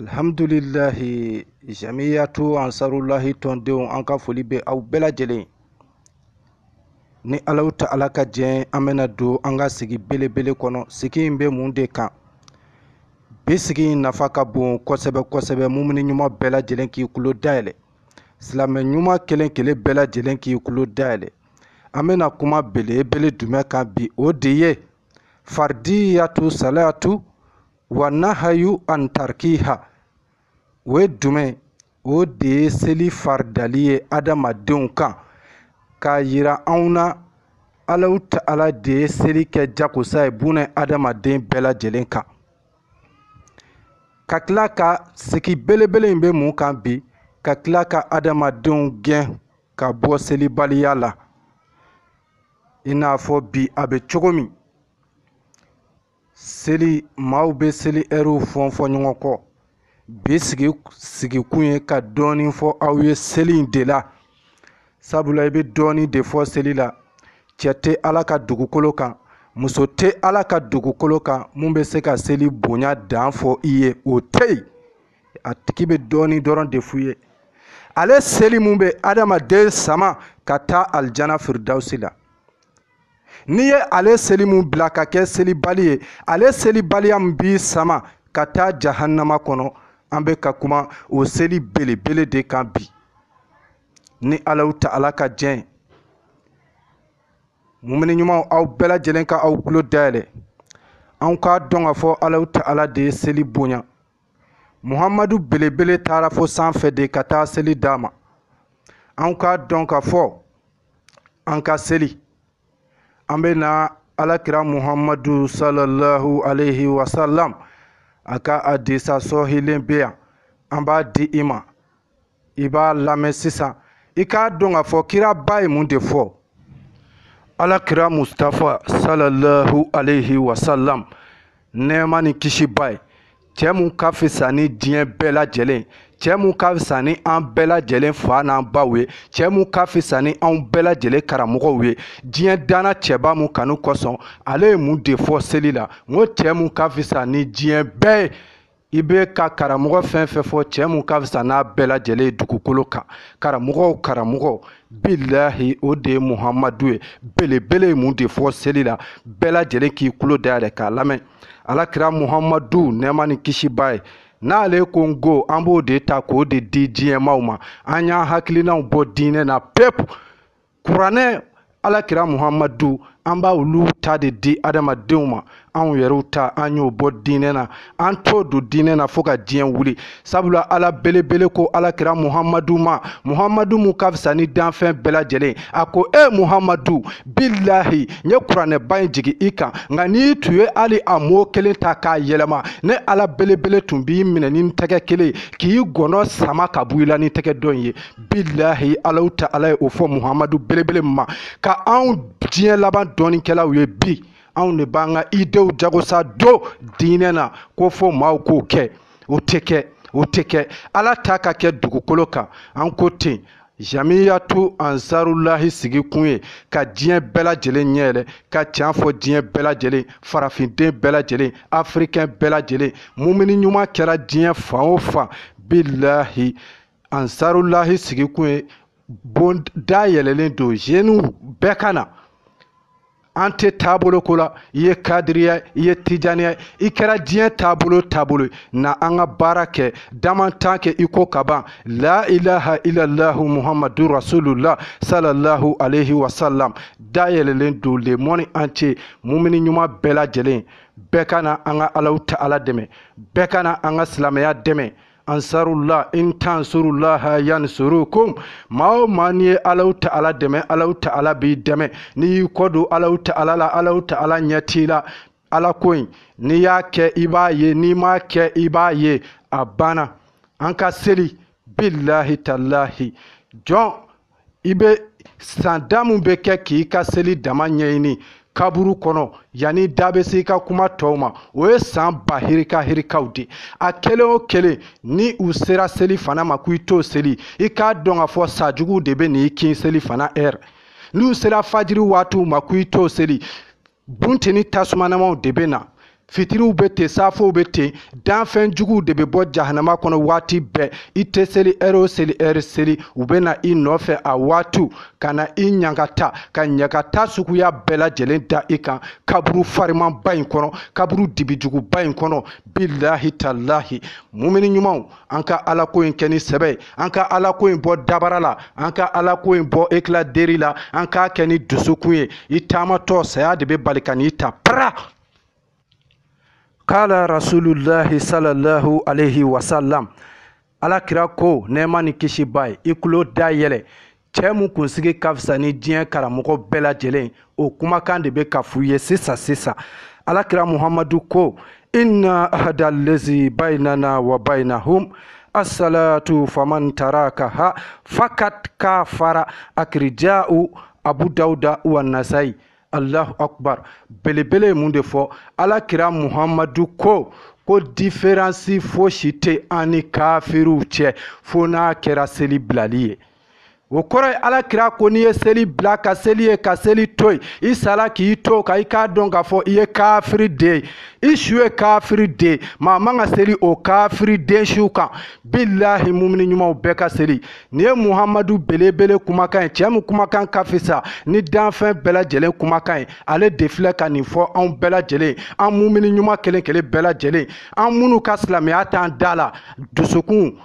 alhamdulilahi jamiyatu ansarulahi tɔndenw an ka foli bɛ aw bɛɛ lajɛlen ye ni alahu taala ka jɛn an bɛna don an ka sigi belebele kɔnɔ sigi in bɛ mun de kan bi sigi in nafa ka bon kosɛbɛ kosɛbɛ mumini ɲuman bɛɛ lajɛlen k'i tulo dayɛlɛ silamɛ ɲuman kelen kelen bɛɛ lajɛlen k'i tulo dayɛlɛ an bɛna kuma belebele jumɛn kan bi o de ye faridiyatu salatu wa nahayu an tarkiha o ye jumɛn o de ye seli faridali ye adamadenw kan k'a yira anw na alahu taala de ye seli kɛ jakosa ye bunɛ adamaden bɛɛ lajɛlen kan ka tila ka sigi belebele in bɛ mun kan bi ka tila ka adamadenw gɛn ka bɔ selibaliya la i n'a fɔ bi a bɛ cogo min seli maaw bɛ seli ɛriw fɔn fɔ ɲɔgɔn kɔ bi sigi sigikun ye ka dɔɔnin fɔ aw ye seli in de la sabula i bɛ dɔɔnin de fɔ seli la cɛ tɛ ala ka dugukolo kan muso tɛ ala ka dugukolo kan mun bɛ se ka seli bonya dan fɔ i ye o tɛ yen a tigi bɛ dɔɔnin dɔrɔn de f'u ye ale seli mun bɛ adamaden sama ka taa alijana firidawusi la n'i ye ale seli mun bila ka kɛ selibali ye ale selibaliya min b'i sama ka taa jahannama kɔnɔ an bɛ ka kuma o seli belebele de kan bi ni alahu taala ka jɛn mumini ɲumanw aw bɛɛ lajɛlen ka aw tulo dayɛlɛ an k'a dɔn k'a fɔ alahu taala de ye seli bonya muhamadu belebele taara fo sanfɛ de ka taa seli d'a ma an k'a dɔn k'a fɔ an ka seli an bɛ na alakira muhamadu sallallahu alaihi wasallam a ka hadisa sɔhilen bɛ yan an b'a di i ma i b'a lamɛn sisan i k'a dɔn k'a fɔ kiraba ye mun de fɔ alakira mustafa salallahu alayhi wa sallam nɛɛma ni kisi b'a ye cɛɛ mun ka fisa ni diɲɛ bɛɛ lajɛlen cɛɛ mun ka fisa ni an bɛɛ lajɛlen fa n'an baw ye cɛɛ mun ka fisa ni anw bɛɛ lajɛlen karamɔgɔw ye diɲɛ danna cɛba mun kanu kosɔn ale ye mun de fɔ seli la n ko cɛɛ mun ka fisa ni diɲɛ bɛɛ ye i bɛ ka karamɔgɔ fɛn fɛn fɔ cɛ mun ka fisa n'a bɛɛ lajɛlen ye dugukolo kan karamɔgɔ o karamɔgɔ bilahi o de ye muhamadu ye belebele ye mun de fɔ seli la bɛɛ lajɛlen k'i tulo dayɛlɛ k'a lamɛn alakira muhamadu nɛɛma ni kisi b'a ye n'ale ko n ko an b'o de ta k'o de di diɲɛmaw ma an y'an hakilinanw bɔ diinɛ na pewu kuranɛ ala kira muhamadu an b'a olu ta de di adamadenw ma anw yɛrɛw ta an y'o bɔ diinɛ na an t'o don diinɛ na fo ka diɲɛ wuli sabula ala belebele ko ala kira muhamadu ma muhamadu mu ka fisa ni danfɛn bɛɛ lajɛlen a ko e muhamadu bilahi n ye kuranɛba in jigin i kan nka n'i tun ye hali a mot kelen ta k'a yɛlɛma ne ala belebele tun b'i minɛ ni tɛgɛ kelen k'i gɔnɔ sama ka bɔ i la ni tɛgɛ dɔ in ye bilahi allahu ta'ala ye o fɔ muhamadu belebele ma ka anw diɲɛ laban dɔnnikɛlaw ye bi anw de b'an ka idew jagosa don diinɛ na k'o fɔ maaw k'o kɛ o tɛ kɛ o tɛ kɛ ala ta ka kɛ dugukolo kan an ko ten jamiyatu ansarulahi sigi kun ye ka diɲɛ bɛɛ lajɛlen ɲɛ yɛlɛ ka can fɔ diɲɛ bɛɛ lajɛlen farafinden bɛɛ lajɛlen afirikɛn bɛɛ lajɛlen mumini ɲuman kɛra diɲɛ fan o fan bilahi ansarulahi sigikun ye bon da yɛlɛlen don zeniw bɛɛ ka na an tɛ taabolo ko la i ye kadiriya i ye tijaniya i kɛra diɲɛ taabolo o taabolo ye na an ka baara kɛ damantan kɛ i ko ka ban la ilaha illallahu muhammadu rasulullah sallallahu alaihi wasallam da yɛlɛlen don le monde entier mumini ɲuman bɛɛ lajɛlen bɛɛ ka na an ka allahu ta'ala dɛmɛ bɛɛ ka na an ka silamɛya dɛmɛ ansarullah in tansurullaha yansurukum maa o maa n'i ye allahu ta'ala dɛmɛ allahu ta'ala b'i dɛmɛ n'i y'i kɔ don allahu ta'ala la allahu ta'ala ɲɛ t'i la ala ko in n'i y'a kɛ i b'a ye n'i m'a kɛ i b'a ye a banna an ka seli bilahi talahi jɔn i bɛ san da min bɛ kɛ k'i ka seli dama ɲɛɲini kaburu kɔnɔ yanni da bɛ se i ka kuma tɔw ma o ye san ba hirika hirikaw de a kelen o kelen ni u sera selifana ma k'i t'o seli i k'a dɔn k'a fɔ sa jugu de bɛ n'i kin selifana heure n'u sera fajiri waatiw ma k'i t'o seli bunteni tasumanamaw de bɛ na fitiriw bɛ ten safow bɛ ten danfɛn juguw de bɛ bɔ jahanama kɔnɔ waati bɛɛ i tɛ seli heure o seli heure seli u bɛ na i nɔfɛ a waatiw ka na i ɲagata ka ɲagata suguya bɛɛ lajɛlen da i kan kaburu farimanba in kɔnɔ kaburu dibijuguba in kɔnɔ bilahi talahi mumini ɲumanw an ka alako in kɛ ni sɛbɛ ye an ka alako in bɔ dabara la an ka alako in bɔ éclat de rire la an k'a kɛ ni dusukun ye i taamatɔ saya de bɛ bali ka n'i ta para kala rasulullahi sallallahu alaihi wasallam ala kira ko nɛɛma ni kisi b'a ye i tulo da yɛlɛ cɛɛ mun kunsigi ka fisa ni diɲɛ karamɔgɔ bɛɛ lajɛlen o kumakan de bɛ ka f'u ye sisan sisan alakira muhamadu ko inna ahada lezi bainana wa bainahum asalatu faman tarakaha fakat kafara akirija'u abu dawuda wa nasayi alahu akubar belebele ye mun de fɔ ala kira muhamadu ko ko diferansi fosi tɛ an ni kafiriw cɛ fo n'a kɛra seli bilali ye o kɔrɔ ye ala kira ko n'i ye seli bila ka seli ye ka seli to yen i sala k'i to ka i k'a dɔn k'a fɔ i ye kafiri den ye i su ye kafiri den maa man ka seli o kafiri den suw kan bilahi mumini ɲumanw bɛɛ ka seli nin ye muhamadu belebele kumakan ye cɛɛ min kumakan ka fisa ni danfɛn bɛɛ lajɛlen kumakan ye ale de filɛ ka nin fɔ anw bɛɛ lajɛlen an mumini ɲuman kelen kelen bɛɛ lajɛlen an minnu ka silamɛya t'an da la dusukun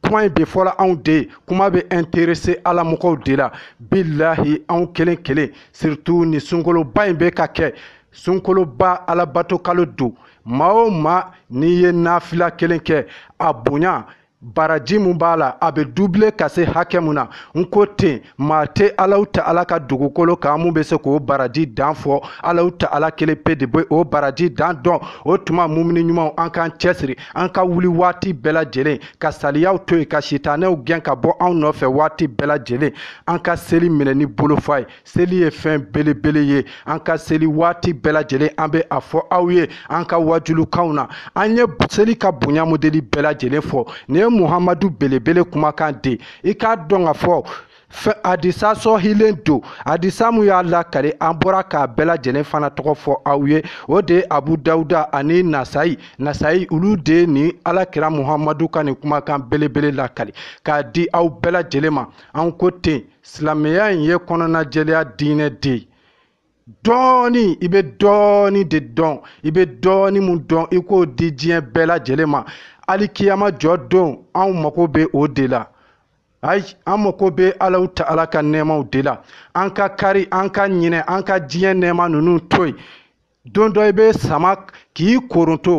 kuma in bɛ fɔla anw de ye kuma bɛ interese alamɔgɔw de la bilahi anw kelen kelen surtout nin sunkaloba in bɛ ka kɛ sunkaloba alabato kalo don maa o maa n'i ye nafila kelen kɛ a bonya baraji mun b'a la a bɛ dubile ka se hakɛ mun na n ko ten maa tɛ alahu taala ka dugukolo kan mun bɛ se k'o baraji dan fɔ alahu taala kelen pe de bɛ o baraji dan dɔn o tuma mumini ɲumanw an k'an cɛsiri an ka wuli waati bɛɛ lajɛlen ka saliyaw to yen ka sitanɛw gɛn ka bɔ anw nɔfɛ waati bɛɛ lajɛlen an ka seli minɛ ni bolofa ye seli ye fɛn belebele ye an ka seli waati bɛɛ lajɛlen an bɛ a fɔ aw ye an ka wajulukanw na an ye seli ka bonya modeli bɛɛ lajɛlen fɔ nin ye muhamadu belebele kumakan de i k'a dɔn k'a fɔ adisa sɔhilen don adisa mun y'a lakali an bɔra k'a bɛɛ lajɛlen fana tɔgɔ fɔ aw ye o de ye abu dawuda ani nasayi nasayi olu de ye nin alakira muhamadu ka nin kumakan belebele lakali k'a di aw bɛɛ lajɛlen ma an ko ten silamɛya in ye kɔnɔnajɛlenya diinɛ de ye dɔɔni i bɛ dɔɔni de dɔn i bɛ dɔɔni mun dɔn i k'o di diɲɛ bɛɛ lajɛlen ma alikiyama jɔ don anw mago bɛ o de la ayi an mago bɛ alahu taala ka nɛɛmaw de la an ka kari an ka ɲinɛ an ka diɲɛ nɛɛma ninnu to yen don dɔ i bɛ sama k'i koronto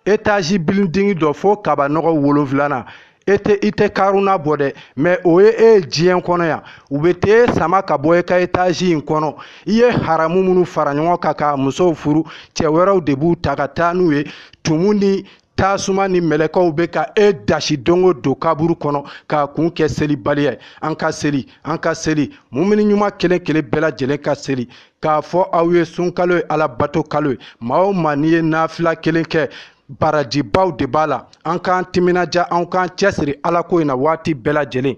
etazi bilidingi dɔ fo kabanɔgɔ wolonfilana i tɛ karuna bɔ dɛ mɛ o ye e ye diɲɛ kɔnɔ yan u bɛ t'e sama ka bɔ e ka etazi in kɔnɔ i ye haramu minnu fara ɲɔgɔn kan ka musow furu cɛ wɛrɛw de b'u ta ka taa n'u ye tumu ni tasuma ni mɛlɛkɛw bɛ ka e dasi don o don kaburu kɔnɔ k'a kun kɛ selibaliya ye an ka seli an ka seli mumini ɲuman kelen kelen bɛɛ lajɛlen ka seli k'a fɔ aw ye sunkalo ye alabato kalo ye maa o maa n'i ye nafila kelen kɛ barajibaw de b'a la an k'an timinadiya an k'an cɛsiri alako in na waati bɛɛ lajɛlen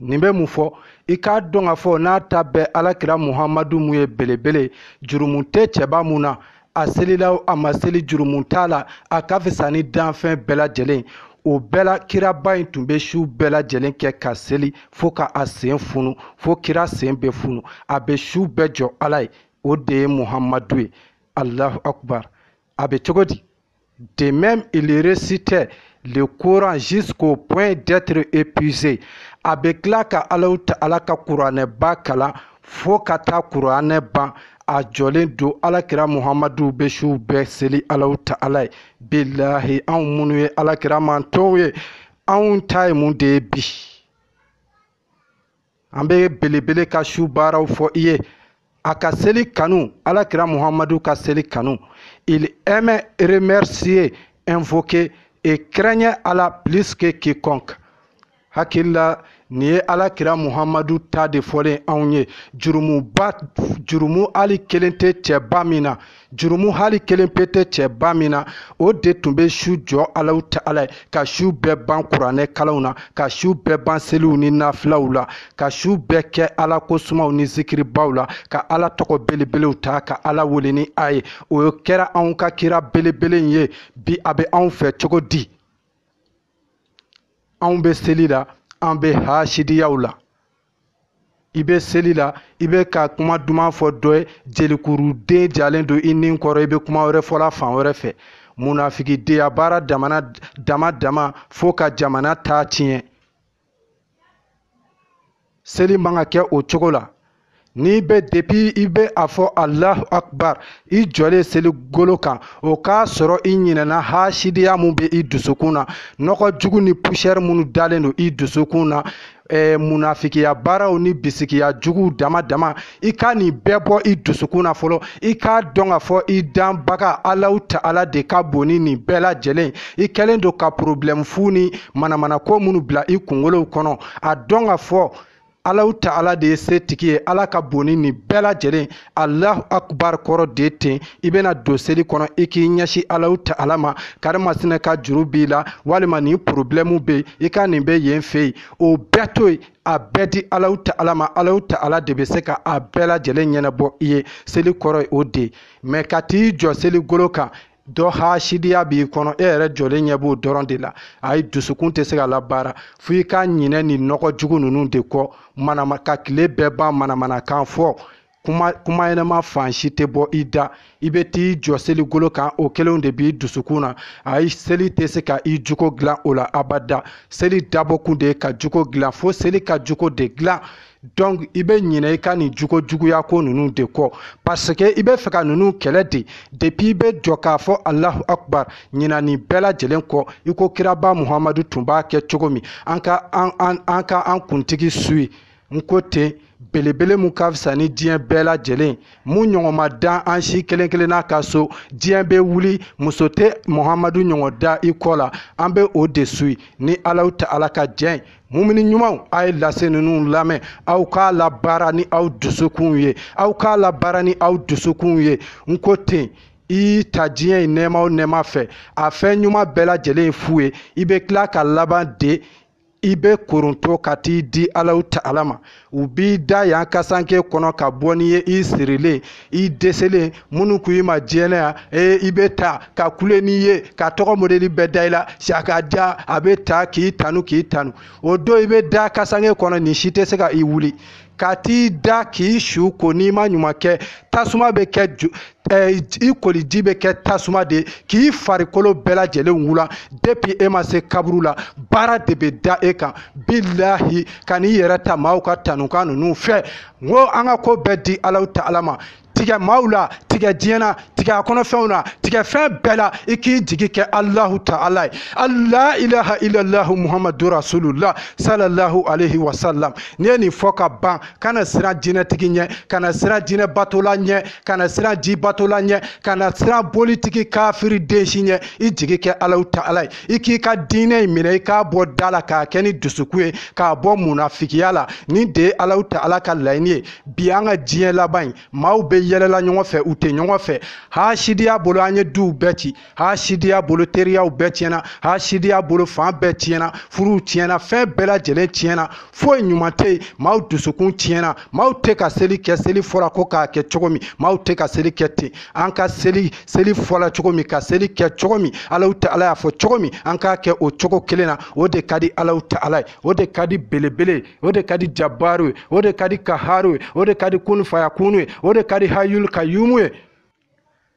nin bɛ mun fɔ i k'a dɔn k'a fɔ n'a ta bɛɛ alakira muhamadu mun ye belebele jurumu tɛ cɛba mun na a selila a ma seli jurumu t'a la a ka fisa ni danfɛn bɛɛ lajɛlen o bɛɛ la kiraba in tun bɛ su bɛɛ lajɛlen kɛ ka seli fo ka a sen funu fo kira sen bɛ funu a bɛ su bɛɛ jɔ ala ye o de ye muhamadu ye alahu akubar A bɛ cogo di de même il récitait le Coran jusqu'au point d'être épuisé a bɛ tila ka Alahu Taala ka kuranɛba kalan fo ka taa kuranɛ ban a jɔlen don alakira muhamadu bɛ su bɛɛ seli Alahu Taala ye bilahi anw minnu ye alakira mantɔnw ye anw ta ye mun de ye bi an bɛ belebele ka su baaraw fɔ i ye a ka seli kanu alakira muhamadu ka seli kanu il aimait remercier invoquer et craignait Allah plus que quiconque hakili la nin ye alakira muhamadu ta de fɔlen anw ye jurumu hali kelen tɛ cɛba min na jurumu hali kelen pe tɛ cɛba min na o de tun bɛ su jɔ alahu taala ye ka su bɛɛ ban kuranɛ kalanw na ka su bɛɛ ban seliw ni nafilaw la ka su bɛɛ kɛ ala ko sumaw ni zikiribaw la ka ala tɔgɔ belebelew ta ka ala wele ni a ye o kɛra anw ka kira belebele in ye bi a bɛ anw fɛ cogo di anw bɛ seli la an bɛ hasidiyaw la i bɛ seli la i bɛ ka kuma duman fɔ dɔ ye jelikuru de jalen don i ni kɔrɔ i bɛ kuma wɛrɛ fɔla fan wɛrɛ fɛ munafikidenya baara dama dama dama fo ka jamana ta tiɲɛ seli man ka kɛ o cogo la n'i bɛ depuis i bɛ a fɔ alahu akbar i jɔlen seli golo kan o k'a sɔrɔ i ɲinɛna hasidiya min bɛ i dusukun na nɔgɔ jugu ni poussière minnu dalen don i dusukun na eh, munafikiya baaraw ni bisigiya juguw dama dama i ka nin bɛɛ bɔ i dusukun na fɔlɔ i k'a dɔn k'a fɔ i danbaga alahu taala de ka bon ni nin bɛɛ lajɛlen i kɛlen don ka porobilɛmu fu ni manamanako minnu bila i kunkolow kɔnɔ a dɔn k'a fɔ alahu taala de ye setigi ye ala ka bon ni nin bɛɛ lajɛlen alahu akubar kɔrɔ de ten i bɛna don seli kɔnɔ i k'i ɲɛsin alahu taala ma karimasina ka juru b'i la walima nin porobilɛmu bɛ yen i ka nin bɛ yen fɛ yen o bɛɛ to yen a bɛɛ di alahu taala ma alahu taala de bɛ se ka a bɛɛ lajɛlen ɲɛnabɔ i ye seli kɔrɔ ye o de ye mais ka t'i jɔ seli golo kan dɔ hasidiya b'i kɔnɔ e yɛrɛ jɔlen ɲɛ b'o dɔrɔn de la ayi dusukun tɛ se ka labaara fo i ka ɲinɛ nin nɔgɔ jugu ninnu de kɔ manama ka tile bɛɛ ban manamanakan fɔ kuma kuma ɲɛnama fan si tɛ bɔ i da i bɛ t'i jɔ seligolo kan o kelenw de b'i dusukun na ayi seli tɛ se ka i jogo dilan o la abada seli dabɔkun de ye ka jogo dilan fo seli ka jogo de dilan donc i bɛ ɲinɛ i ka nin jogo juguya ko ninnu de kɔ parce que i bɛ fɛ ka ninnu kɛlɛ de depuis i bɛ jɔ k'a fɔ alahu akubar ɲinɛ nin bɛɛ lajɛlen kɔ i ko kiraba muhamadu tun b'a kɛ cogo min an ka an an an ka an kuntigi suivi n ko ten belebele min ka fisa ni diɲɛ bɛɛ lajɛlen mun ɲɔgɔn ma dan an si kelen kelenna ka so diɲɛ bɛ wuli muso tɛ muhamadu ɲɔgɔn da i kɔ la an bɛ o de suivi ni alahu taala ka jɛn ye mumini ɲumanw a ye lase ninnu lamɛn aw k'a labaara ni aw dusukunw ye aw k'a labaara ni aw dusukunw ye n ko ten i ta diɲɛ in nɛɛma o nɛɛma fɛ a fɛn ɲuman bɛɛ lajɛlen ye fu ye i bɛ tila ka laban de i bɛ koronto ka t'i di alahu taala ma u b'i da yan kasanke kɔnɔ ka bɔ n'i ye i sirilen i dɛsɛlen minnu ko i ma diɲɛ na yan ee i bɛ taa ka kule n'i ye ka tɔgɔ modeli bɛɛ da i la saka ja a bɛ taa k'i tanu k'i tanu o don i bɛ da kasanke kɔnɔ nin si tɛ se ka i wuli ka t'i da k'i su ko n'i ma ɲuman kɛ tasuma bɛ kɛ i koliji bɛ kɛ tasuma de k'i farikolo bɛɛ lajɛlen wula depuis e ma se kaburu la baara de bɛ da e kan bilahi kan'i yɛrɛ ta maaw ka tanukan ninnu fɛ n ko an ka ko bɛɛ di alahu taala ma tigɛ maaw la tigɛ diɲɛ na tigɛ a kɔnɔfɛnw na tigɛ fɛn bɛɛ la i k'i jigi kɛ alahu taala ye la ilaha ilalahu muhamadu rasulula salallahu alaihi wasalam n'i ye nin fɔ ka ban kana siran jinɛtigi ɲɛ kana siran jinɛ batola ɲɛ kana siran ji batola ɲɛ kana siran bolitigi kafiri den si ɲɛ i jigi kɛ alahu taala ye i k'i ka diinɛ in minɛ i k'a bɔ da la k'a kɛ ni dusukun ye k'a bɔ munafigiya la nin de ye alahu taala ka laɲini ye bi an ka diɲɛ laban in maaw bɛ yɛlɛ la ɲɔgɔn fɛ u tɛ ɲɔgɔn fɛ hasidiya bolo an ye duw bɛɛ ci hasidiya bolo teriyaw bɛɛ tiɲɛna hasidiya bolo fan bɛɛ tiɲɛna furuw tiɲɛna fɛn bɛɛ lajɛlen tiɲɛna foyi ɲuman tɛ yen maaw dusukun tiɲɛna maaw tɛ ka seli kɛ seli fɔra ko k'a kɛ cogo min maaw tɛ ka seli kɛ ten an ka seli seli fɔla cogo min ka seli kɛ cogo min alahu taala y'a fɔ cogo min an k'a kɛ o cogo kelen na o de ka di alahu taala ye o de ka di belebele o de ka di jabaru ye o de ka di kaharu ye o de ka di kunfayakunu ye o de ka di hayul kayumu ye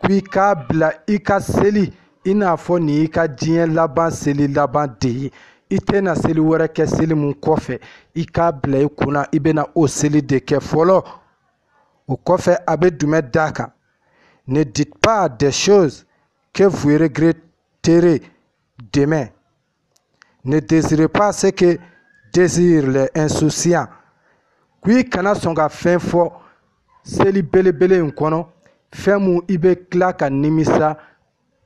ko i k'a bila i ka seli i n'a fɔ nin y'i ka diɲɛ laban seli laban de ye i tɛna seli wɛrɛ kɛ seli mun kɔfɛ i k'a bila i kunna i bɛna o seli de kɛ fɔlɔ o kɔfɛ a bɛ jumɛn d'a kan ne dites pas des choses que vous regretterez demain ne désirez pas ce que désirent les insouciants ko i kana sɔn ka fɛn fɔ seli belebele in kɔnɔ fɛn mun i bɛ tila ka nimisa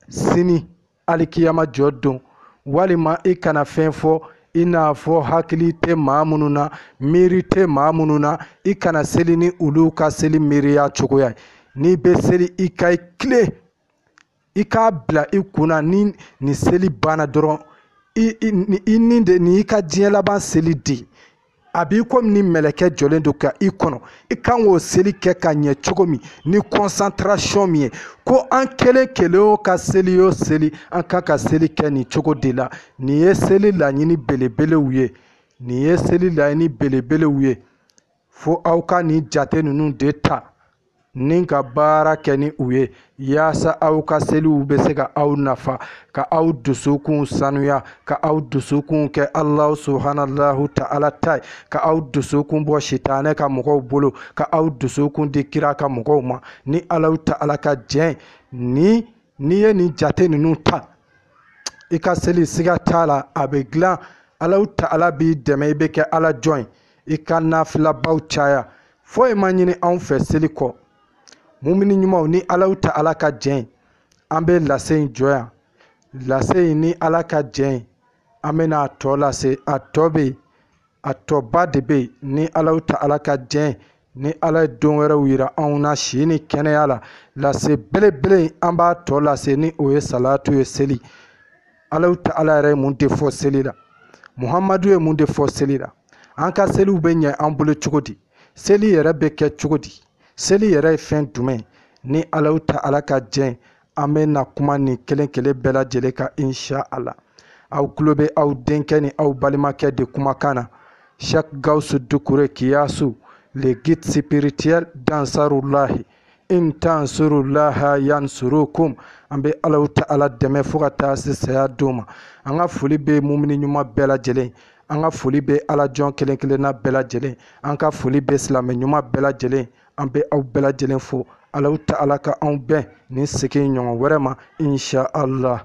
sini alikiyama jɔ don walima i kana fɛn fɔ i n'a fɔ hakili tɛ maa minnu na miiri tɛ maa minnu na i kana seli ni olu ka seli miiriya cogoya ye n'i bɛ seli i ka i tilen i k'a bila i kunna ni nin seli banna dɔrɔn i ni de nin y'i ka diɲɛ laban seli de a b'i komi ni mɛlɛkɛ jɔlen don ka i kɔnɔ i kan k'o seli kɛ ka ɲɛ cogo min ni concentration min ye ko an kelen kelen o ka seli o seli an kan ka seli kɛ nin cogo de la nin ye seli laɲini belebelew ye nin ye seli laɲini belebelew ye fo aw ka nin jate ninnu de ta ni ka baara kɛ ni u ye yaasa aw ka seliw bɛ se ka aw nafa ka aw dusukun sanuya ka aw dusukun kɛ alahu subahanahu taala ta ye ka aw dusukun bɔ sitanɛ ka mɔgɔw bolo ka aw dusukun di kira ka mɔgɔw ma ni alahu taala ka jɛn n'i ye nin jate ninnu ta i ka seli siga t'a la a bɛ dilan alahu taala b'i dɛmɛ i bɛ kɛ ala jɔn ye i ka nafilabaw caya foyi ma ɲini anw fɛ seli kɔ mumini ɲumanw ni alahu taala ka jɛn an bɛ lase in jɔ yan lase in ni ala ka jɛn an bɛna a tɔ lase a tɔ bɛ yen a tɔba de bɛ yen ni alahu taala ka jɛn ni ala ye don wɛrɛw yira anw na si ni kɛnɛya la lase belebele an b'a tɔ lase ni o ye salatu ye seli alahu taala yɛrɛ ye mun de fɔ seli la muhamadu ye mun de fɔ seli la an ka seliw bɛ ɲɛ an bolo cogo di seli yɛrɛ bɛ kɛ cogo di seli yɛrɛ ye fɛn jumɛn ni alahu taala ka jɛn an bɛ na kuma nin kelen kelen bɛɛ lajɛlen kan insha ala aw tulo bɛ aw denkɛ ni aw balimakɛ de kumakan na cheikh gawusu dukure kiyasu le guide spirituel d'ansarulahi in tansurulaha yansurukum an bɛ alahu taala dɛmɛ fo ka taa se saya don ma an ka foli bɛ mumini ɲuman bɛɛ lajɛlen an ka foli bɛ ala jɔn kelen kelenna bɛɛ lajɛlen an ka foli bɛ silamɛ ɲuman bɛɛ lajɛlen an bɛ aw bɛɛ lajɛlen fo alahu taala ka anw bɛn nin sigi ɲɔgɔn wɛrɛ ma insha allah